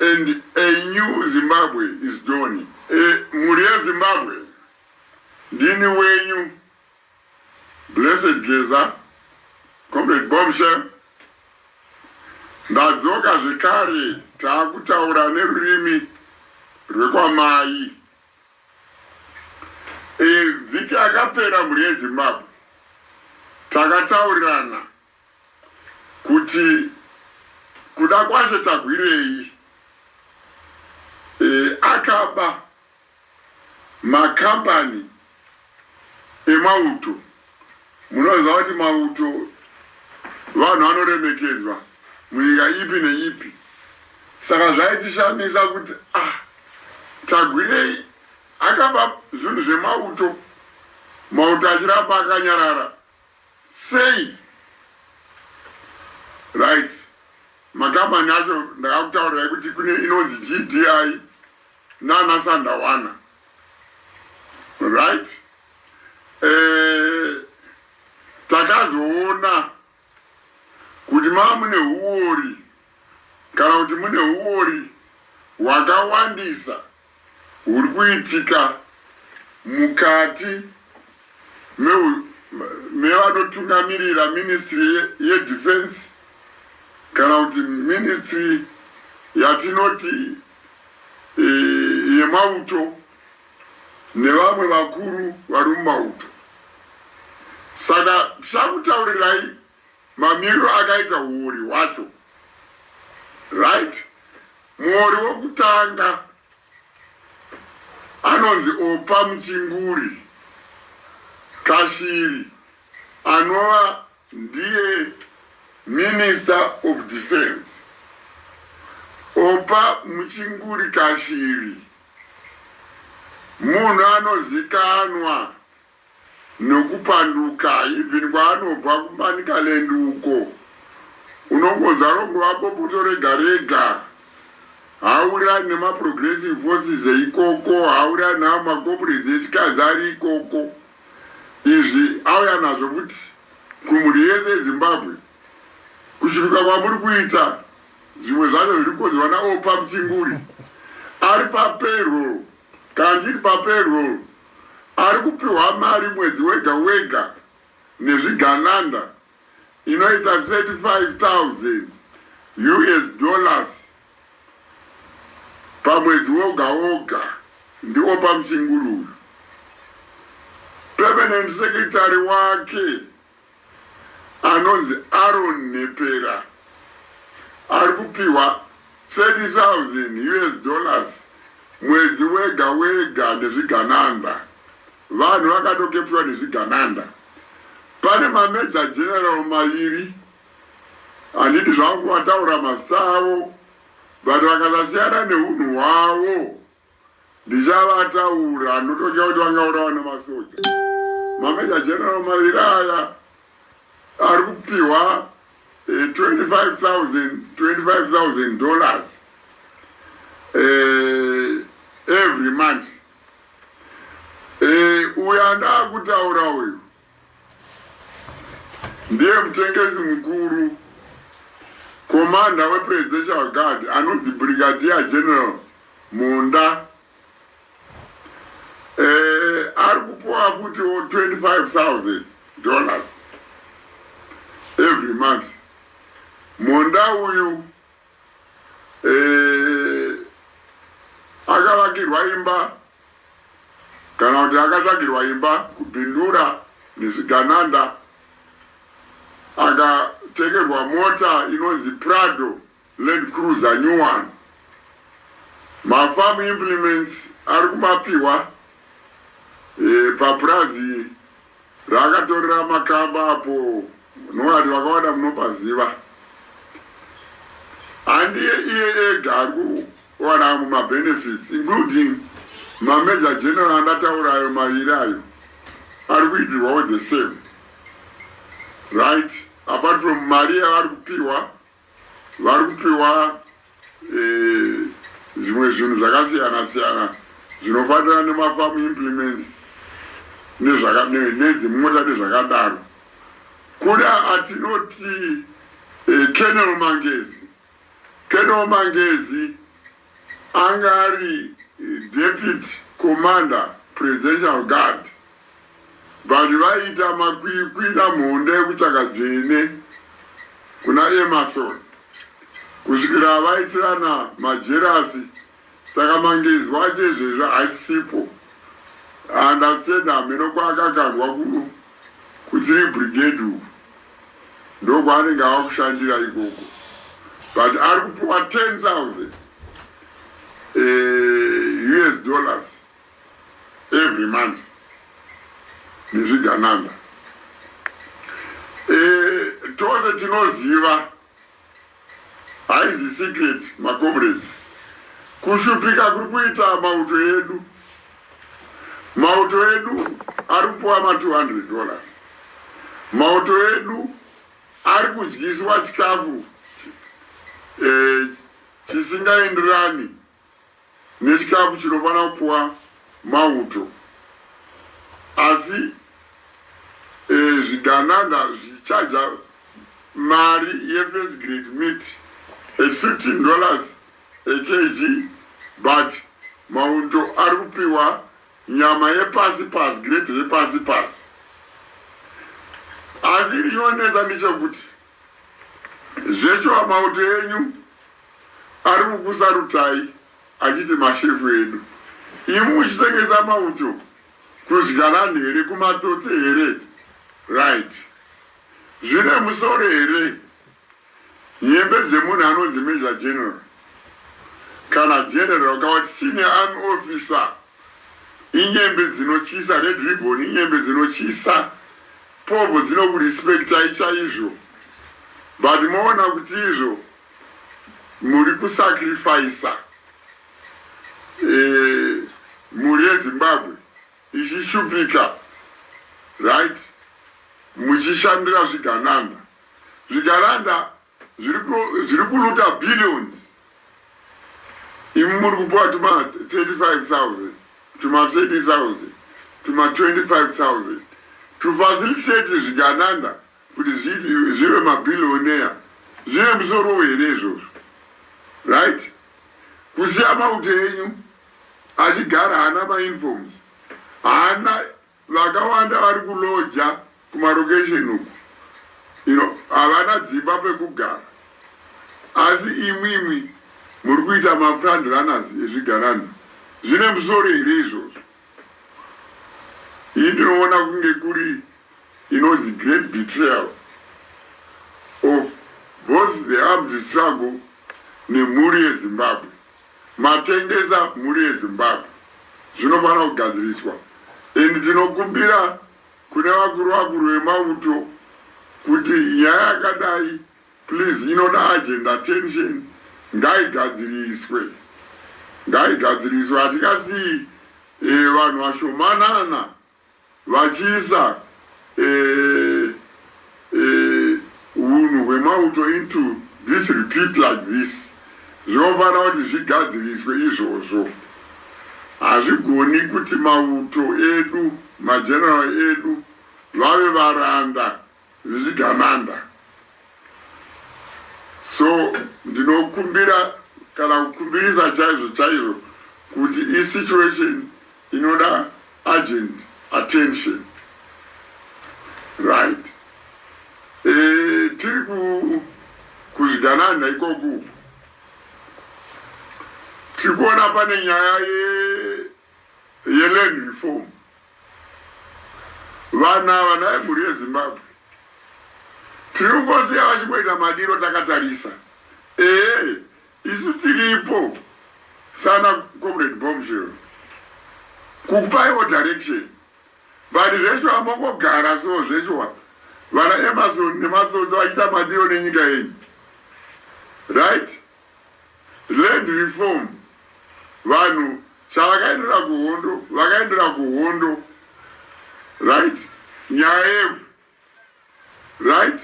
and a new Zimbabwe is dawning. E, mhuri yeZimbabwe ndini wenyu Blessed Geza, Comrade Bombshell. Ndadzoka zvekare taakutaura nerurimi rwekwamai. E, vhiki yakapera mhuri yeZimbabwe takataurirana kuti kuda kwaShe tagwirei e, akaba makambani emauto. Munoziva kuti mauto vanhu vanoremekedzwa munyika ipi neipi, saka zvaitishamisa kuti ah, tagwirei akaba zvinhu zvemauto mauto achiramba akanyarara Sei? Right. Makambani acho ndakakutaurirai kuti kune inonzi GDI nana Sandawana. Right? Eh, takazoona kuti mava mune huori kana kuti mune huori hwakawandisa huri kuitika mukati mevanotungamirira ministry yedefense kana kuti ministry yatinoti e, yemauto nevamwe vakuru vari mumauto saka tichakutaurirai Mamiriro akaita huori hwacho right muori wokutanga anonzi opa muchinguri kashiri anova ndiye minister of defense opa muchinguri kashiri munhu anozikanwa Nokupanduka even kwaanobva kuManicaland uko unongonzwa rongova bopoto rega rega. Haawirirani nemaProgressive Forces eikoko, haawirirani neamwe maComrades echikadzi ari ikoko. Izvi auya nazvo futi kumhuri yese yeZimbabwe. Kushuduka kwamuri kuita zvimwe zvacho zviri kukonzerwa naOppa Mchinguri ari papayroll. Kandiri papayroll ari kupihwa mari mwedzi wega wega nezvigananda inoita 35,000 us dollars pamwedzi woga woga ndiOppa Mchinguri uyu. Permanent secretary wake. anonzi Aaron Nhepera ari kupihwa 30,000 us dollars mwedzi wega wega nezvigananda. Vanhu vakatokepiwa nezvigananda. Pane maMajor General maviri handidi zvangu kuvataura mazita avo but vakasasiyana nehunhu hwavo. Ndichavataura ndototya kuti vangaurawa nemasoja. Mameja General maviri aya ari kupiwa 25,000 25,000 dollars eh, every month. Eh, uyu andaa kutaura uyu Ndiye mutengesi mukuru komanda wepresidential guard anonzi brigadier general munda eh, ari kupuwa futiwo 25000 dollars every month munda uyu eh, akavakirwa imba kana kuti akatsvagirwa imba kubindura nezvigananda akatengerwa mota inonzi prado land cruiser new one mafarm implements ari kumapiwa e, papurazi Raakatorera makamba apo Noah vakawada munopaziva handiye iye ega ari kuwana amwe mabenefits including mamajor general andataura ayo maviri ayo ari kuitirwawo the same right apart from mari yavari kupiwa vari kupiwa eh, zvimwe zvinhu zvakasiyana siyana zvinofanira nemafamu implements nedzimota nezvakadaro kuda atinoti eh, kenel mangezi kenel mangezi Anga ari deputy commander presidential guard but vaiita makwikwi namhonda ekutsvaga dzvene kuna Emerson kusvikira vaitirana majerasi saka mangezo acho izvezvi haisipo. I understand hameno kwaakakandwa ku Kudziri brigade uku ndokwaanenge ava kushandira ikoko but ari kupiwa 10,000 eh, us dollars every month nezvigananda eh, tose tinoziva Haizi secret maComrades. Kushupika kuri kuita mauto edu. Mauto edu ari kupuwa ma 200 dollars. Mauto edu ari kudyiswa chikafu eh, chisingaenderani nechikafu chinofanira kupiwa mauto asi e, zvigananda zvichaja mari yefirst grade meat at 15 dollars ekg but mauto ari kupiwa nyama yepasi pasi grade repasi pasi asi iri inonetsa ndechekuti Zveshuwa mauto enyu ari kukusarutai achiti mashefu edu. Imi muchitengesa mauto kuzhgarani here kumatsotsi here right. Zvine musoro here nyembe dzemunhu anonzi Major General kana General kawati Senior Army Officer inyembe dzinotyisa red ribbon inyembe dzinotyisa Povo dzinoku respectai chaizvo but moona kuti izvo muri ku sacrificer eh, mhuri yezimbabwe ichishupika right muchishandira zvigananda zvigananda zviri kuluta billions imi muri kupuwa tuma 35000 tuma 30000 tuma 25000 tufacilitate zvigananda kuti zvive mabillionaire zvine musoro here izvozvo right kusiya mauto enyu achigara haana mainforms haana Vakawanda vari kuloja kumarokesheni uku you know, havana dzimba pekugara asi imwimwi muri kuita mafront runners ezvigananda zvine musoro here izvozvo? Iyi ndinoona kunge kuri inonzi great betrayal of both the armed struggle nemhuri yezimbabwe. Matengesa mhuri yeZimbabwe zvinofanira kugadziriswa and tinokumbira kune vakuru vakuru vemauto kuti nyaya yakadai please inoda urgent attention ngaigadziriswe ngaigadziriswe hatikasiyi eh, vanhu vashomanana Vachiisa hunhu hwemauto into this repeat like this zvinofanira kuti zvigadziriswe izvozvo. Hazvigoni kuti mauto edu, mageneral edu vave varanda zvichigananda so ndinokumbira kana kukumbirisa chaizvo chaizvo kuti isituation inoda urgent attention right e, tiri kuzvigananda ikoku tiri kuona pane nyaya yeland ye reform Vanhu ava nhai mhuri yeZimbabwe tiri kungosiya vachingoita madiro takatarisa ehe isu tiripo sana comrade bombshell kukupaiwo direction but zveshuwa mongogara so zveshuwa vana Emerson nematsotsi vachiita madiro nenyika yenyu right Land reform vanhu chavakaendera kuhondo vakaendera kuhondo right nyaya yevhu right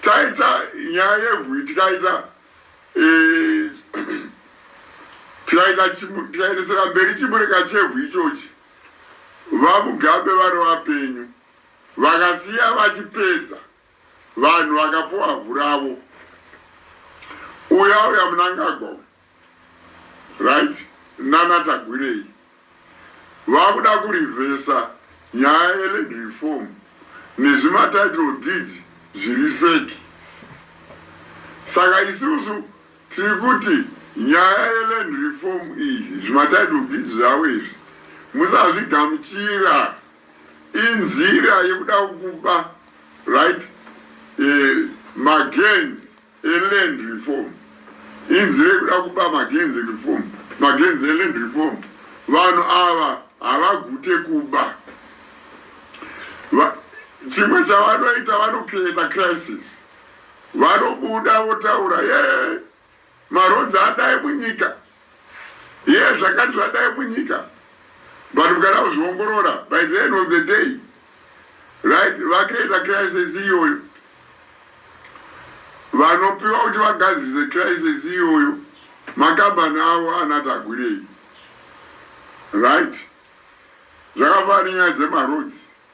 taita nyaya yevhu tikaita eh, tikaita tikaendesera mberi chimureka chevhu ichochi vamugabe vari vapenyu vakasiya vachipedza Vanhu vakapuwa vhu ravo. Uyu auya munangagwa uyu. Right? Nana Tagwirei. Vakuda kurivhesa nyaya yeland reform nezvimatitle deeds zviri feki. Saka isusu tiri kuti nyaya yeland reform iyi zvimatitle deeds zvavo izvi musazvigamuchira. inzira yekuda kukuba right eh, magens eland reform inzira yekuda kukuba magens reform magens eland reform vanhu ava havagute kuba chimwe chavanoita vanokireta crisis vanobuda votaura yee Maroads adai munyika yes zvakati zvadai munyika but mukada kuzviongorora by the end of the day right vacreata crisis iyoyo vanopiwa kuti vagadzise crisis iyoyo makambani avo anatagwirei right zvakafanira dzemaroads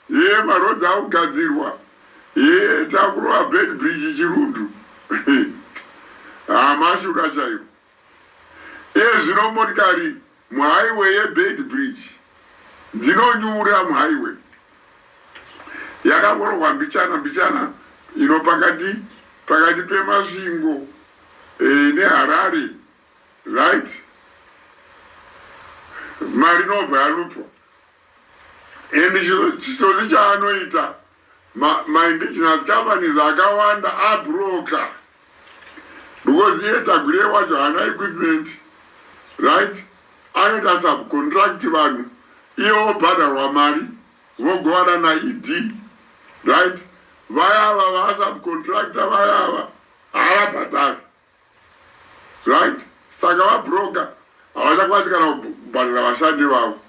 Hee ma roads akugadzirwa hee takurova bed bridge chirundu haa mashuda chaiwo iye zvino motikari muhighway ye bed bridge dzinonyura muhighway yakangorohwa mbichana mbichana ino pakati pakati pemasvingo eh, neharare right mari inobva yalupwa and chitsotsi chaanoita maindigenous companies akawanda abroker because iye tagure wacho haana equipment right anoita subcontract vanhu iye wobhadharwa mari vogovana naed right vayava vasubcontractor vayava haavabhadhari right saka vabroker havachakwanisi kana kubhadhara vashandi vavo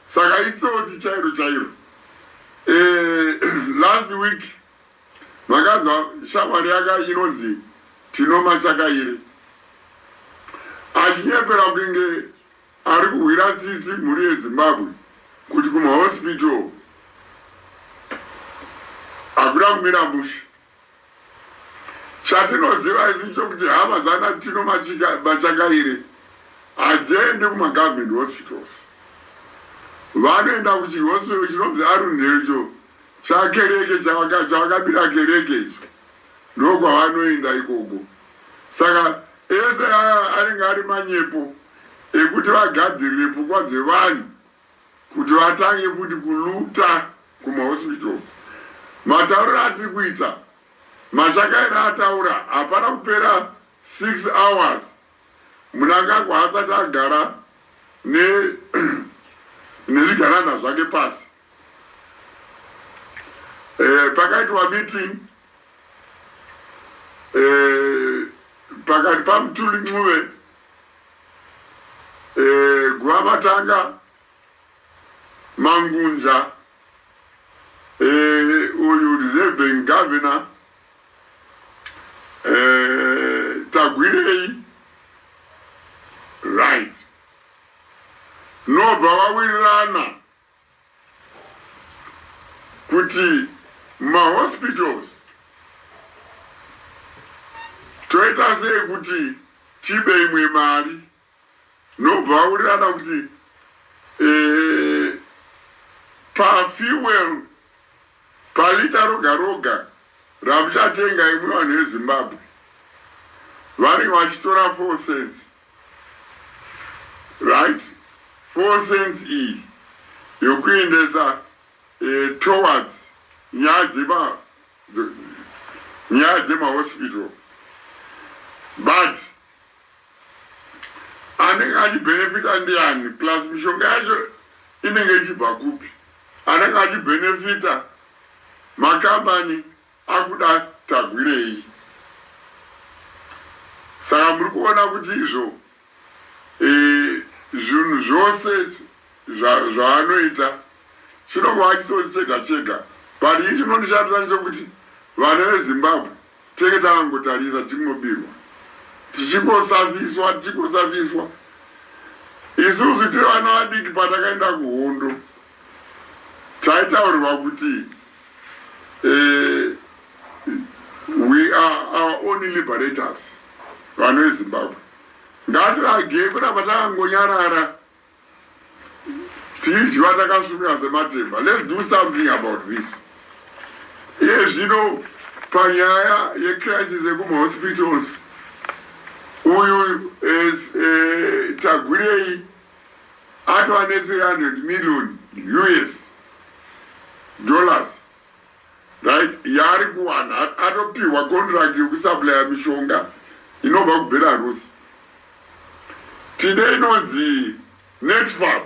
saka itsotsi chairo chairo eh, last week makanzwa shamwari yaka inonzi tinoma chakairi achinyepera kunge ari kuhwira tsitsi mhuri yezimbabwe kuti kumahospital hakuna kumira mushe Chatinoziva isu chokuti hama dzana Tino Machakaire hadziendi kumagovernment hospitals. Vanoenda kuchihospital chinonzi Arundel icho chakereke chavakabira kereke icho ndokwavanoenda ikoko. Saka ese aya anenge ari manyepo ekuti vagadzirire pfungwa dzevanhu kuti vatange kuti kuluta kumahospital uku. Matauriro atiri kuita Machakaira ataura hapana kupera six hours Mnangagwa haasati agara ne nezvigananda zvake pasi. Eh, pakaitwa meeting eh, pakati paMthuli Ncube eh, Guavatanga, Mangunja, eh, uyu reserving governor eh, Tagwirei, right, nobva vawirirana kuti mahospitals toita sei kuti tibe imwe mari nobva aurirana kuti eh, pafuel palita roga roga ramuchatenga imwe vanhu vezimbabwe vanenge vachitora four cents right four cents iyi yokuendesa eh, towards nyaya dzema nyaya dzemahospital but anenge achibenefita ndiani plus mishonga yacho inenge ichibva kupi anenge achibenefita makambani Akuda Tagwirei. Saka muri kuona kuti izvo e, zvinhu zvose zvaanoita chinongova chisodzi chega chega but ii chinondishamisa ndechokuti vana vezimbabwe tenge takangotarisa tichingobirwa tichingosafiswa tichingosafiswa isusu tiri vana vadiki patakaenda kuhondo taitaurirwa kuti eh, we are our only liberators vanhu vezimbabwe ngatirage kuramba takangonyarara tichidyiwa takasvumira sematemba let's do something about this iye zvino panyaya yecrisis yekumahospitals uyu eh, eh, tagwirei atova ne 300 million us dollars right yaari kuwana atopihwa contract yekusuplya mishonga inobva kubelarus tine inonzi netfab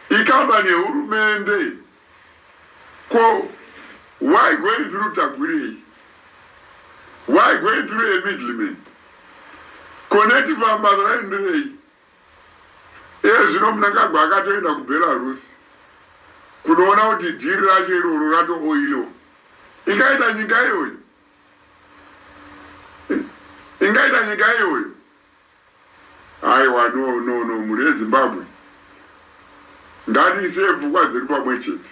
ikambani yehurumende ko why going through tagwirei why going through emiddleman ko netfab basa raindirei Iye zvino Mnangagwa akatoenda kuBelarus kunoona kuti dhiri racho iroro ratooiliwa. Ingaita nyika iyoyo? Ingaita nyika iyoyo? Aiwa, no, no, no, mhuri yeZimbabwe ngatiisei pfungwa dzedu pamwe chete.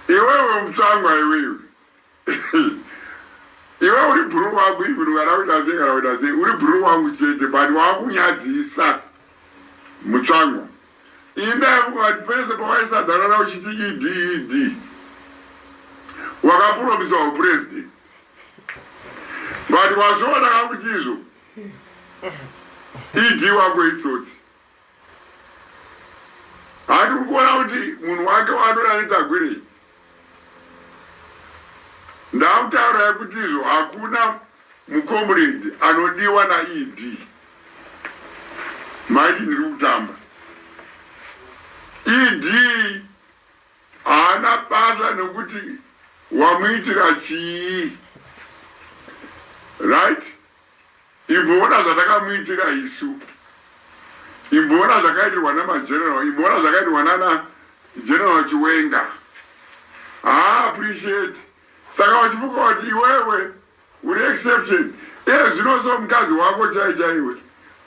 Iwewe mutsvangwa iwewe. iwe uri bhuru wangu even kana uita sei kana uita sei uri bhuru wangu chete but wakunyadzisa mutsvango inda vati pese pawaisadanana uchiti ed ed wakapuromisa upresident but wazviona kakuti izvo ed wako itsotsi Handi kuona kuti munhu wake waadora netagwirei. Ndakutaura kuti izvo hakuna mucomrade anodiwa naED. Maiti ndiri kutamba. ED haana basa nokuti wamuitira chii. Right? Imboona zvatakamuitira isu. Imboona zvakaitirwa namageneral. Imboona zvakaitirwa nana general Chiwenga. Haa appreciate. Saka wachimuka wati iwewe uri exception. Iye zvinoso mukadzi wako chai chaiwe.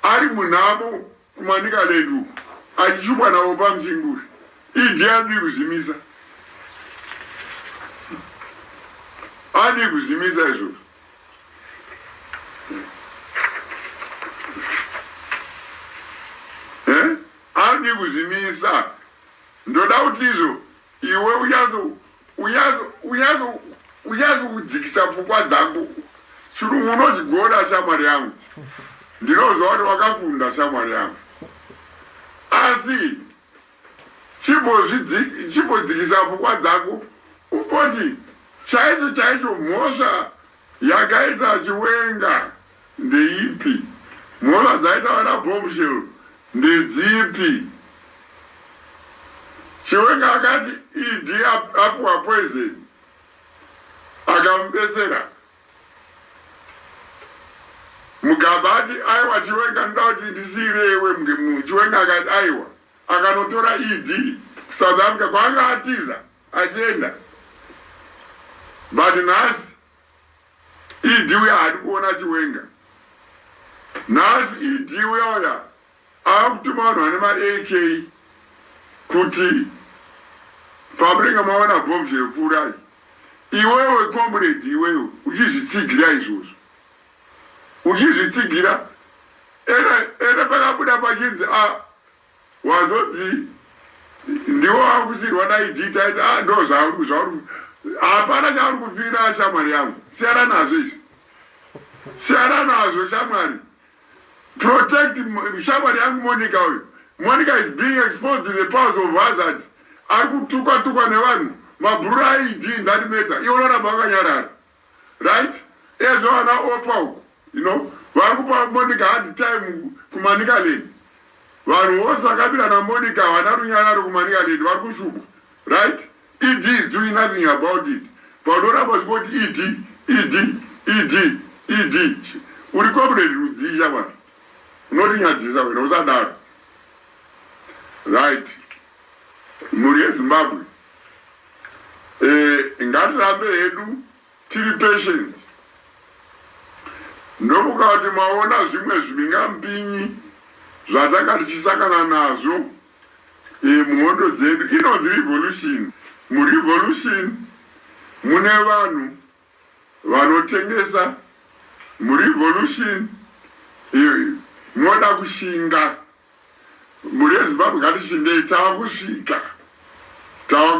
Ari munhamo Kumanicaland uku achishupwa navo pamusingi uyu idi adii kuzvimisa adii kuzvimisa izvozvo Eh? adii kuzvimisa ndoda kuti izvo Iwe uyazo uyazo uyazo uyazo kudzikisa pfungwa dzangu chirungu unochigona shamwari yangu ndinoziva kuti wakakunda shamwari yangu asi chimbodzikisa pfungwa dzako umboti chaicho chaicho mhosva Yakaita chiwenga ndeipi. Mhosva dzaita vana bombshell ndedzipi. Chiwenga akati ED apiwa poison akamubetsera. Mugaba ati aiwa Chiwenga ndoda kuti ndisiire iwe Chiwenga akati aiwa akanotora ED South Africa kwaanga atiza. Achienda but nhasi ED uya haadi kuona Chiwenga. Nhasi ED uya uya ava kutuma vanhu vane ma AK kuti pamunenge maona bomb zvekuurayi iwewe comrade iwewe uchizvitsigira izvozvo uchizvitsigira ena ena pakabuda pachinzi a ah, Wazonzi ndiwo wakusirwa dai dita aiti ah ndo zvauri zvauri hapana chauri kupira shamwari yangu siyana nazvo izvi siyana nazvo shamwari protect shamwari yangu monica uyu monica is being exposed to the powers of hazard ari kutukwa tukwa nevanhu mabhurura aidi ndati meta iwo loramba vakanyarara right ezvo vana opa uku you know vari kupa monica hard time kumanika leni vanhu vose vakabira namonica havana runyararo kumanika leni vari kushupa right ed is doing nothing about it paunoramba uchingoti ed ed ed ed uri comrade rudzii shamwari unotinyadzisa wena usadaro right Mhuri yeZimbabwe eh, ngatirambe hedu tiri patient ndokukati maona zvimwe zvimingambinyi zvatanga tichisangana nazvo eh, muhondo dzedu inonzi revolution murevolution mune vanhu Vanotengesa mu revolution iyo iyo moda kushinga mhuri yeZimbabwe ngatishingei tava kusvika tava